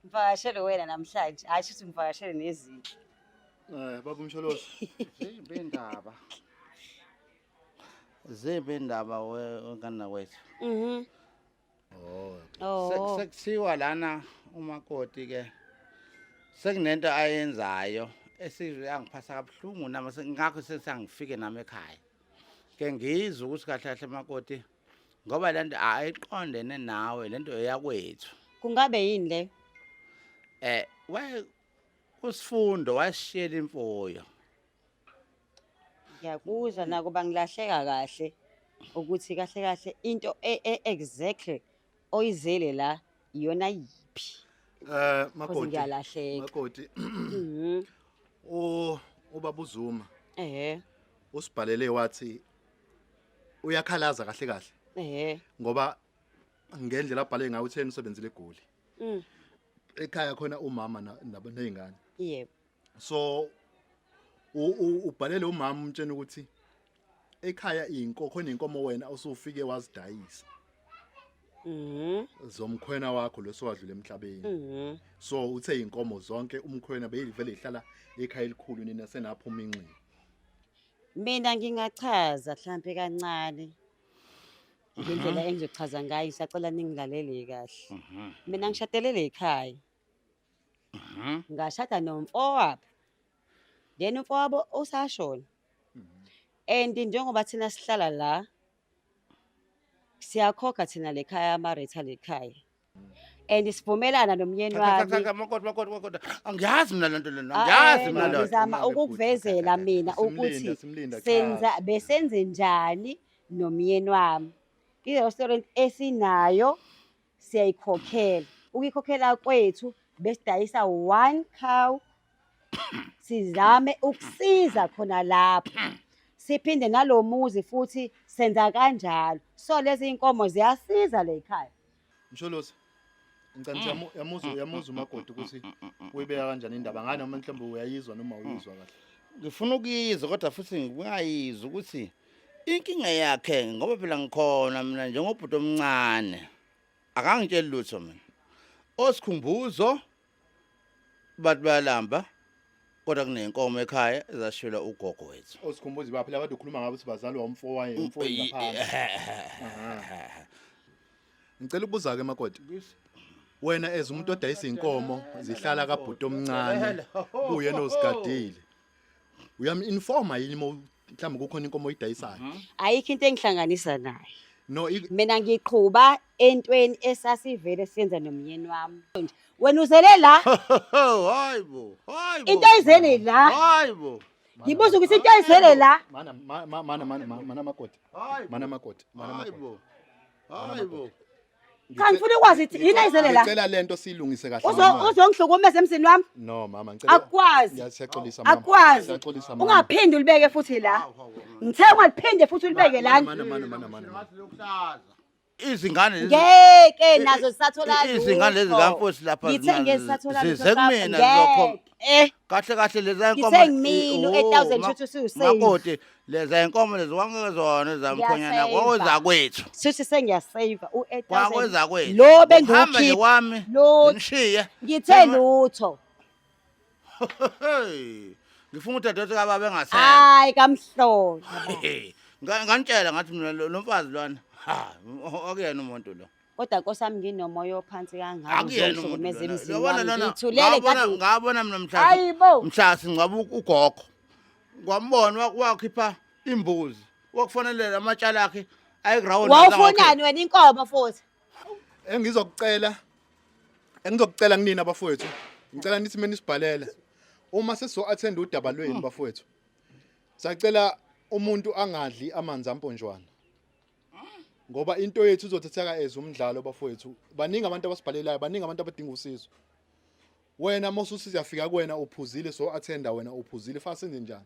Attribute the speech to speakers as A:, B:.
A: Ngivakashele wena namhlanje, hhayi shuthi ngivakashele nezinto. Eh baba
B: umsholozi. Zimbe indaba.
C: Zimbe indaba wenkana kwethu. Mhm.
A: Oh. oh. Sekuthiwa lana
C: umakoti ke sekunento ayenzayo esizwe yangiphasa kabuhlungu nami ngakho sesangifike nami ekhaya. Ke ngizwe ukuthi kahle kahle makoti ngoba lento ayiqondene nawe lento eyakwethu kungabe yini
A: le eh waye
C: usifundo washiyela imfuyo
A: ngiyakuzwa nako bangilahleka kahle ukuthi kahle kahle into e- e- exactly oyizele la iyona yiphi Eh Cause makoti.
B: ngiyalahleka.
A: Makoti.
B: Mhm. U ubaba uZuma ehe usibhalele wathi uyakhalaza kahle kahle ehe ngoba ngendlela abhale ngayo utheni usebenzile egoli mm ekhaya khona umama na- nabo nezingane yebo
A: so
B: u- u- ubhalele umama umtshena ukuthi ekhaya inko khona inkomo wena usufike wazidayisa mhm zomkhwena wakho losiwadlule emhlabeni mhm so uthe inkomo zonke umkhwena beyivele ihlala ekhaya elikhulu nina senaphuma inxeba
A: Mina ngingachaza mhlampe kancane ngendlela mhm. engizochaza ngayo ngisacela ningilalele kahle. Mhm. Mina ngishadele le khaya. Mhm. Ngashada nomfowabo. Then umfowabo usashona. And njengoba thina sihlala la siyakhokha thina le khaya ama-rate ale khaya and sivumelana nomyeni wami angiyazi
C: mina lento lena angiyazi mina lento ngizama ukukuvezela
A: mina ukuthi senza besenze njani nomyeni wami i-restaurant esinayo siyayikhokhela ukuyikhokhela kwethu besidayisa one cow sizame ukusiza khona lapho siphinde nalo muzi futhi senza kanjalo so lezi iy'nkomo ziyasiza le yikhaya msholosi
B: ngicela ukuthi yamu- yamuzwa yamuzwa umakoti ukuthi uyibeka kanjani indaba ngani noma mhlawumbe uyayizwa noma uyizwa kahle ngifuna ukuyizwa
C: kodwa futhi ngingayizwa ukuthi Inkinga yakhe ngoba phela ngikhona mina njengobhuti omncane. Akangitsheli lutho mina. Osikhumbuzo bathi bayalamba kodwa kunenkomo ekhaya ezashwela ugogo wethu. Osikhumbuzo baphi labantu ukhuluma
B: ngabo ukuthi bazalwa umfo waye umfo ngaphansi. Ngicela ukubuza ke makoti. Wena as umuntu odayisa inkomo zihlala kabhuti omncane kuye nozigadile. uyam-informa yini uma mhlawumbe kukhona inkomo oyidayisayo Mhm. ayikho into
A: engihlanganisa naye no i- mina
B: ngiqhuba
A: entweni esasivele siyenza nomyeni wami wena uzele la hayi bo hayi bo
C: into
A: ayizele la hayi bo
C: ngibuza ukuthi
A: into ayizele la mana ma- ma- mana mana
B: ma- mana makoti hayi mana makoti mana hayi makoti bo
C: hayi bo Cha
A: ngifuna ukwazi ukuthi yini ayizele la. Ngicela lento siyilungise kahle.
B: Uzo uzongihlukumeza emzini
A: wami? No mama ngicela.
B: Akwazi. Ngiyaxolisa
A: mama.
B: Akwazi. Ngiyaxolisa mama.
A: Ungaphindi ulibeke futhi la. Ngithe ungaphinde futhi ulibeke la. Mana mana mana
B: mana.
C: Izingane lezi ngeke nazo
A: zisathola izingane lezi kamfosi
C: lapha ngithe ngeke zisathola
A: zize kumina lokho
C: eh kahle kahle leza inkomo Ngithe ngimile u-
A: Oh, 8000 ma- shuthi ususafe. makoti
C: leza inkomo lezi wangeke zona zamkhonyana Ngiyasafe. kwaweza kwethu Shuthi sengiyasaver
A: u 8000. kwaweza kwethu Lo
C: Uhamba nje bengiwukhipha.
A: wami Lo-
C: ngishiye
A: Ngithe
C: Sengima- lutho.
A: Hey,
C: ngifuna udadewethu kababa engasekho Hayi kamhlolo.
A: Hey, nga-
C: nganitshela ngathi mina lo lo mfazi lwana ha o- okuyena umuntu lo kodwa nkosi yami
A: nginomoya ophansi kangangizohlukumeza emzini
C: wami ngithulele
A: ngabona
C: mina mhla mhla singcwaba ugogo ngwambona wakhipha imbuzi wakufonelela amatshala akhe ayiground wawufunani wena inkomo
A: futhi engizokucela
B: engizokucela kunina bafowethu ngicela nithi mina nisibhalele uma sesizo attend udaba lwenu bafowethu sacela umuntu angadli amanzi amponjwana ngoba into yethu izothetheka as umdlalo bafowethu baningi abantu abasibhalelayo baningi abantu abadinga usizo wena mosusizi yafika kuwena uphuzile so athenda wena uphuzile fase njani